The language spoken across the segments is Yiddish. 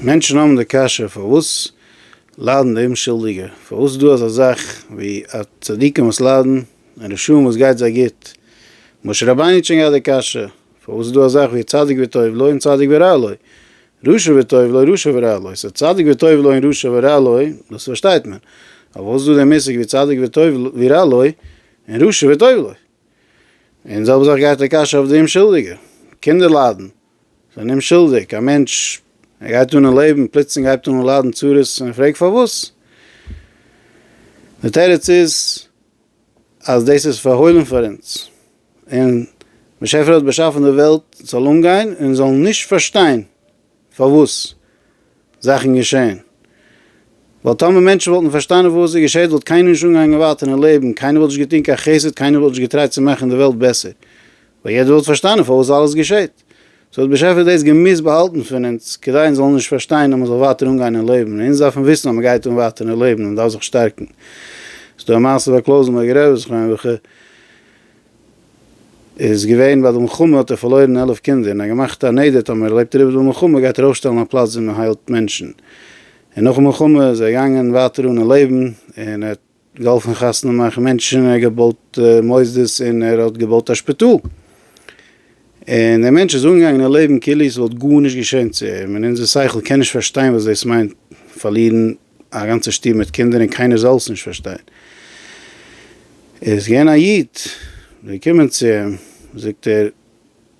מענטשן האבן די קשיא פארוואס ליידן די אומשולדיגע? פארוואס איז דא אזא זאך ווי א צדיקים וואס ליידן און רשעים וואס גייט זיי גוט? משה רבינו האט שוין געהאט די קשיא, פארוואס איז דא א זאך ווי צדיק וטוב לו און צדיק ורע לו, רשע וטוב לו רשע ורע לו, סא צדיק וטוב לו און רשע ורע לו דאס פארשטייט מען, אבער פארוואס איז דא די מושג ווי צדיק וטוב לו ורע לו און רשע וטוב לו? און די זעלבע זאך גייט די קשיא אויף די אומשולדיגע, קינדער ליידן, זיי נישט שולדיג, א מענטש ער גייט אן אין לעבן פלוצלינג הייבט אן ליידן צרות און ער פרעגט פארוואס? די תירוץ איז אז דאס איז פארהוילן פאר אונז און באשעפער האט באשאפן די וועלט זאל אנגיין און זאלן נישט פארשטיין פארוואס זאכן געשען. ווייל טאמער מענטשן וואלטן פארשטאנען וואס עס געשעט וואלט קיינער נישט אנגעהאנגען ווייטער אין לעבן, קיינער וואלט נישט געטון קיין חסד, קיינער וואלט נישט געטרייט צו מאכן די וועלט בעסער. ווייל יעדער וואלט פארשטאנען פארוואס אלעס געשעט. סאו האט באשעפער דאס געמוזט באהאלטן פון אונז, כדי אונז זאלן נישט פארשטיין אז מען זאל ווייטער אנגיין אין לעבן. אונז דארפן וויסן אז מען גייט אן ווייטער אין לעבן און מען דארף זיך שטארקן. ס'דא א מעשה ביי קלויזענבערגער רבי זכרונו לברכה. איז געווען ביי די מלחמה האט ער פארלוירן עלף קינדער און ער האט געמאכט א נדר טאמער ער לעבט אריבער די מלחמה גייט ער אויפשטעלן א פלאץ ווי מען היילט מענטשן און נאכן מלחמה איז ער געגאנגען ווייטער אן אין לעבן און ער האט געהאלפן חתונה מאכן מענטשן און ער האט געבויט מוסדות און ער האט געבויט א שפיטאל און דער מענטש איז אנגעגאנגען אין לעבן כאילו עס וואלט גארנישט געשען צו אים און אונזער שכל קען נישט פארשטיין וואס דאס מיינט פארלירן א גאנצע שטוב מיט קינדער און קיינער זאל עס נישט פארשטיין. איז געווען א איד געקומען צו אים, זאגט ער,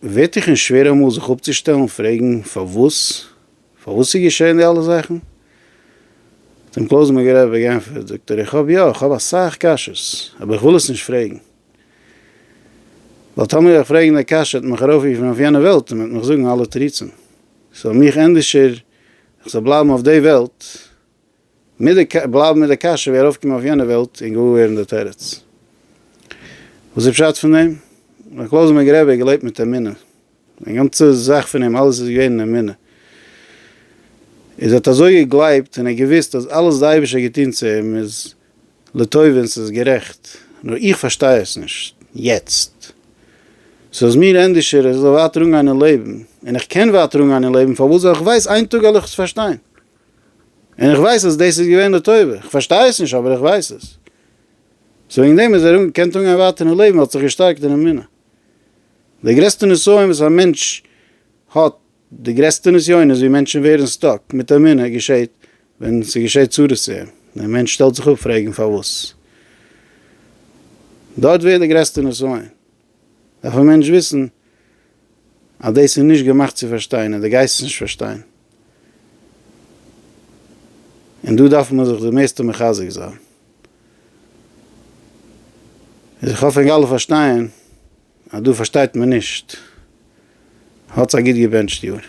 ווערט דיך נישט שווער אמאל זיך אפצושטעלן פרעגן פארוואס? פארוואס איז געשען די אלע זאכן? האט אים קלויזנבורגער רבי גענפערט, זאגט ער, איך האב יא, איך האב אסאך קשיות, אבער איך וויל עס נישט פרעגן, ווייל טאמער וועל איך פרעגן די קשיא וועט מען מיך ארויפרופן אויף יענע וועלט און מען וועט מיך זאגן אלע תירוצים, ס'זאל מיך ענדערשער איך זאל בלייבן אויף די וועלט מיט די בלייבן מיט די קשיא ווי ארויפקומען אויף יענע וועלט און געוואר ווערן די תירוץ. וואס איז פשט פון דעם? ר' קלויזענבערג רבי האט געלעבט מיט אמונה, זיין גאנצע זאך פון אים אלעס איז געווען אין אמונה, איז ער האט אזוי געגלייבט און ער האט געוואוסט אז אלעס די אייבערשטער האט געטון צו אים איז לטוב ווען ס'איז גערעכט, נאר איך פארשטיי עס נישט יעצט. ס'איז מיר ענדישער איך זאל ווייטער אנגיין אין לעבן, און איך קען ווייטער אנגיין אין לעבן פארוואס ווייל איך ווייס איין טאג על איך עס פארשטיין. און איך ווייס אז דאס איז געווען לטובה. איך פארשטיי עס נישט אבער איך ווייס עס. סאו וועגן דעם איז ער געקענט אנגיין ווייטער אין לעבן, ער האט זיך געשטארקט אין אמונה. די גרעסטע נסיון וואס א מענטש האט די גרעסטע נסיונות ווי מענטשן ווערן סטאק מיט אמונה געשעט ווען ס'געשעט צרות צו אים, דער מענטש שטעלט זיך אפ פרעגן פארוואס. דארט ווערט די גרעסטע נסיון, דארף א מענטש וויסן אז דאס איז נישט געמאכט צו פארשטיין און דו גייסט עס נישט פארשטיין, און דא דארף מען זיך די מערסטע מחזק זיין, איז איך האף ענק אלע פארשטייען. אז דא פארשטייט מען נישט האטס א גוט געבענטשט יאר.